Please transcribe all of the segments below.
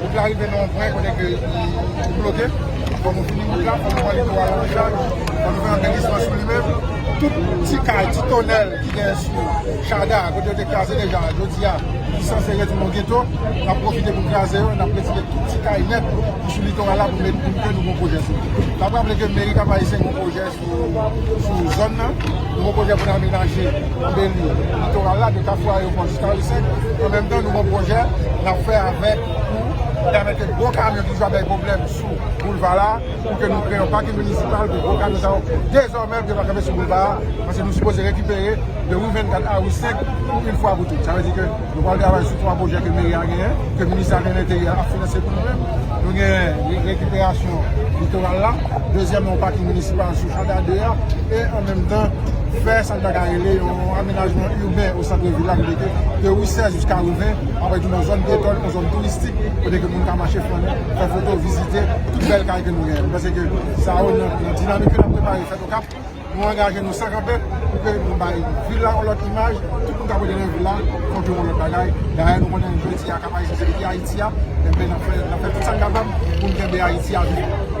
Wout la rive nan yon pwen kote ke li bloke. Fò nou fini wout la, fò nou pran litoral an chaj, fò nou fè anbèlisman sou li menm. Tout ti kay, ti tonèl ki gen sou Chada, kote yo te kraze deja, jodi a, ki sanse retounen an geto, n ap pwofite pou n kraze yo, n ap retire tout ti kay nèt ki sou litoral la pou mèt kout ke nou gon pwojè sou li. N ap raple ke mèri Kap-Ayisyen gen yon pwojè. sou zòn nan. Nouvo pwojè pou n amenaje anbeli litoral la de Kafou Ayewopò jiska Ri-5. An menm tan, nouvo pwojè n ap fè avèk pou pèmèt ke gwo kamyon ki toujou ap bay pwoblèm sou boulva la, pou ke nou kreye yon pakin minisipal pou gwo kamyon sa yo dezòmè pou yo pa kanpe sou boulva a, paske nou sipoze rekipere de Ri 24 a Ri 5 pou in fwa pou tout. Sa vle di ke. Nou pral travay sou 3 pwojè ke meri a genyen, ke ministè de l'intérieur ap finanse pou nou menm. Nou genyen rekiperasyon litoral la, dezyèmman yon paking minisipal sou Janda 2 a, e an menm tan fè sa nou ta ka rele yon amenajman urbain o centre ville la kote ke de rue 16 jiska rue 20 ap rete yon zòn pyetonn, yon zòn touristik kote ke moun ka mache flannen, fè foto, vizite tout bèl kay ke nou genyen. Nou panse ke sa yo nan dinamik ke nap prepare fèt Okap. Nou angaje nou san kanpe pou ke nou bay vil la yon lòt imaj, tout moun k ap rete nan vil la fòk yo wè yon lòt bagay. Dayè nou konnen jodi a Kap Ayisyen se Piti Ayiti a, enben n ap fè tout sa n kapab pou n kenbe Ayiti a vivan.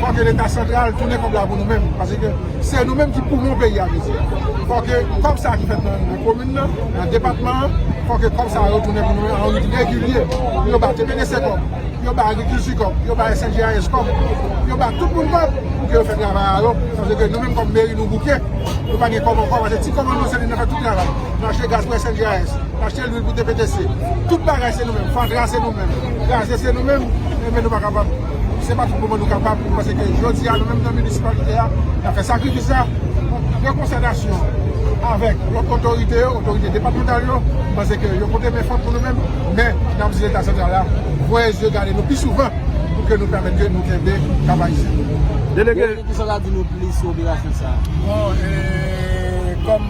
Fò ke leta santral tounen kòb la pou nou menm, paske se nou menm ki poumon peyi a mezi. Fò ke kòb sa ki fèt nan komin nan, nan depatman an, fò ke kòb sa yo tounen pou nou an rit regilye, pou yo ba TBDC kòb, pou yo ba agrikilti kòb, pou yo ba SNJAS kòb, pou yo ba tout moun kòb, pou ke yo fè travay a yo, paske nou menm kòm meri nou bouke, nou pa gen kòb ankò, paske ti kòb an nou se li nan fè tout travay, nan achte gaz pou SNJAS, nan achte lwil pou TBDC, tout bagay se nou menm, fatra se nou menm, gaze se nou menm, e men nou pa kapab. Se pa tout moman nou kapab, nou panse ke jodi a nou menm nan minisipalite a, nan fè sakrifis sa, nou pran konsentasyon avèk lòt otorite yo, otorite depatmantal yo, nou panse ke yo pote men fòm pou nou menm, men nap di leta santral la, voye zye gade nou pi souvan, pou ke nou pèmèt ke nou kenbe Kap Ayisyen. Delege. Delege kisa w ka di nou plis sou operasyon sa? Bon, e, kòm.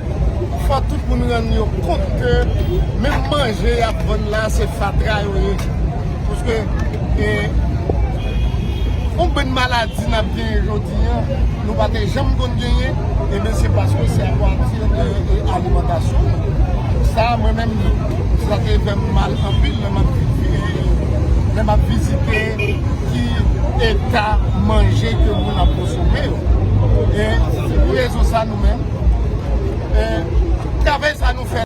Fò tout moun rann yo kont ke menm manje y ap vann la se fatra yo ye. Paske yon bann maladi n ap genyen jodi an, nou pa te janm konn genyen, enben se paske se apati de alimantasyon nou. Sa mwen menm sa te fè m mal anpil lè m ap vizite. ki eta manje ke moun ap konsome yo. Se pou rezon sa nou menm, travay sa nou fè.